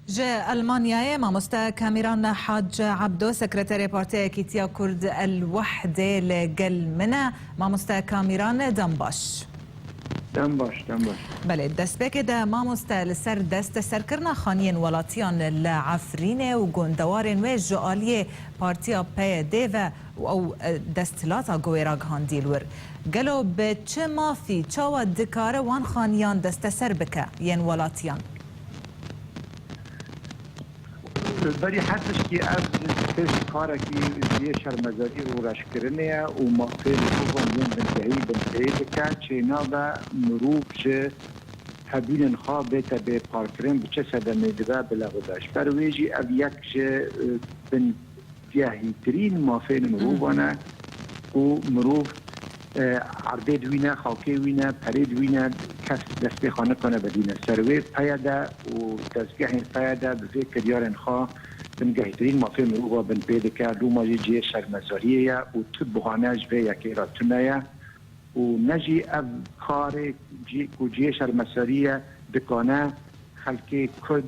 Ji Elmanyayê mamoste Kamiran Hac Ebdo sekreterê Partiya Yekîtiya Kurd El Wehdê li gel min e. Mamoste Kamiran dem baş. Dem baş, dem baş. Belê, destpêkê de mamoste li ser desteserkirina xaniyên welatiyan li Efrînê û gondewarên wê ji aliyê Partiya PYD'ê ve û ew desthilata guwê ragihandî li wir. Gelo bi çi mafî, çawa dikare wan xaniyan desteser bike yên welatiyan? Li berî her tiştî ev pêş karekî ji yê şermezarî û reşkirinê ye û mafê mirovan yên bingehî binpêy dike. Çênabe mirov ji hebûnên xwe bête bê parkirin bi çi sedemê dibe bi lewida. Ji ber wê jî ev yek ji bin. Cehîtirîn mafên mirovan e û mirov erdê di wî ne, xakê wî ne, perê di wî ne, kes destê xwe nikane vedîne ser wê peye de û dezgehên peye de bi vê kiryarên xwe bin gehîtirîn mafên mirovan bin pê dike. Loma jî cihê şermezariyê ye û tu buhane ji vê yekê re tune ye û ne jî ev karê ku cihê şermesariyê ye dikane xelkê Kurd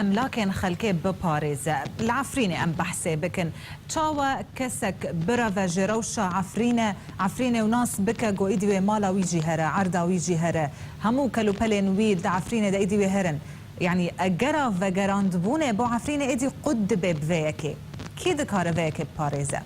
Emlakên xelkê biparêze. Li Efrînê em behsê bikin. Çawa kesek bireve ji rewşa Efrîne, Efrînê û nas bike ku îdî wê mala wî jî here, erda wî jî here, hemû kelûpelên wî di Efrînê de îdî wê here in. Yanî egera vegerandbûnê bo Efrînê êdî qut dibe bi vê yekê. Kî dikare vê yekê biparêze?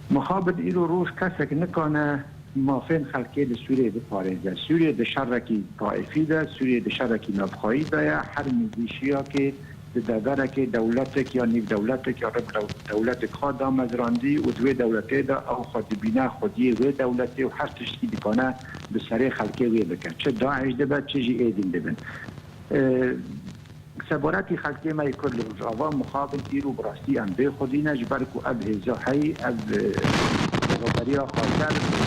Mixabin îro roj kesek nikane Mafên xelkê li Sûriyeyê biparêze. Sûriye di şerekî taîfî de, Sûriye di şerekî navxweyî de ye. Her mîlîşiyakê di deverekê dewletek ya nîvdewletek ya rib dewletek xwe damezrandî û di wê dewletê de ew xwe dibîne xwediyê wê dewletê û her tiştî dikane bi serê xelkê wê bike. Çi DAIŞ dibe, çi jî êdîn dibin. Seborî xelkê me yê Kurd li Rojava mixabin îro bi rastî em bê xwedî ne ji ber ku ev hêza heyî ev rêveberiya Xaser û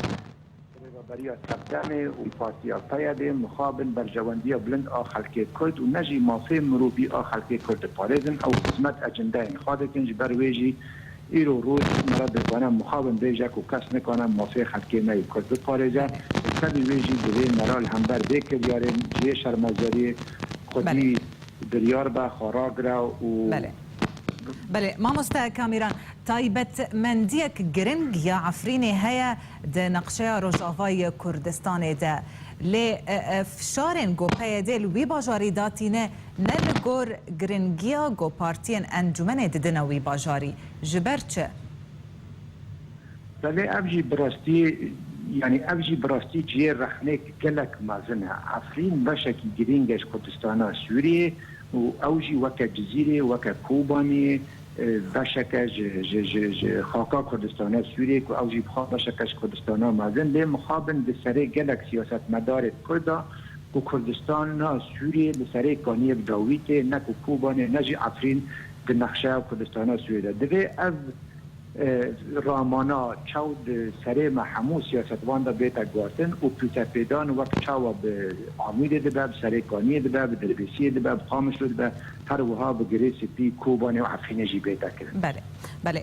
rêveberiya TEPDEM'ê û Partiya PYD'ê mixabin berjewendiya bilind a xelkê Kurd û ne jî mafê mirovî a xelkê Kurd diparêzin ew xizmet e cindeyên xwe dikin ji ber wê jî Îro roj me re dikare mixabin bêje ku kes nikare mafê xelkê me yê Kurd biparêze û tevî wê jî divê me re li hember vê kiryarê ji yê şermezariyê xwedî biryar be xwe ragire û Belê mamoste Kamiran, taybetmendiyek giring ya Efrînê heye di neqşeya Rojavayê ya Kurdistanê de. Lê fişarên ku PYD li wî bajarî da tîne Ne li gor giringiya ku partiyên encûmenê didine wî bajarî. Ji ber çi? Belê ev jî bi rastiyê yanî ev jî bi rastî cihê rexnêk gelek mezin e. Efrîn beşekî girîng e ji Kurdistana Sûriyê û ew jî weke Cizîrê, weke Kobanê beşek e ji ji ji ji xaka Kurdistana Sûriyê ku ew jî bi xwe beşek e ji Kurdistana mezin. Lê mixabin di serê gelek siyasetmedarê Kurd a. ku Kurdistan ne Sûriyê li serê kaniyê bi dawît e, ne ku Kobanê ne jî Efrîn di nexşeya Kurdistana Sûriyê de. Divê ev ramana çaw di serê me hemû siyasetvan de bête guhertin û pûtepêdan wek çawa bi Amûdê dibe, bi serê kaniyê dibe, bi Dirbêsiyê dibe, bi Qamişlo dibe, her wiha bi girê spî Kobanê û Efrînê jî bête kirin. Belê, belê.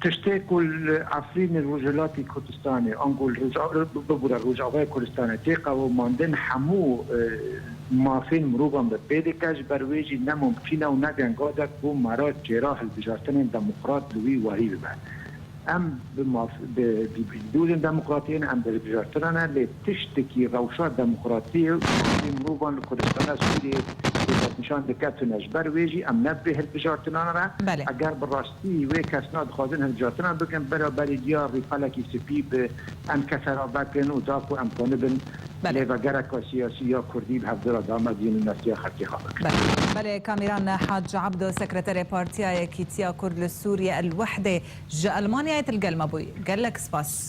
Tiştê ku li Efrînê li Rojhilatê Kurdistanê ango li bibûra Rojavayê Kurdistanê tê qewimandin hemû mafên mirovan bi pê dike. Ji ber wê jî ne mumkîn e û ne gengade ku mera çêra hilbijartinên demokrat li wî wahî bibe. Em bi maf bi dûrên demokratiyê ne em bi hilbijartinan e lê. Tiştekî rewşa demokratiyê û haqê mirovan li Kurdistana Sûriyeyê bi destnîşan diketine. Ji ber wê jî em ne bi vê hilbijartinan re, eger bi rastî wê kesna dixwazin hilbijartinan bikin, bera berî diyar rî pelekî spî bi em kese re vekin û da ku em xwe nibin lêvegereka siyasî ya Kurdî bi hevdira damezîn û nefsiya xelkê xwe bikin. Belê Kamiran Hac Abdo sekreterê Partiya Yekîtiya Kurd li Sûriyê El Wehdê ji Elmanyayê til gel me bûy. Gelek spas.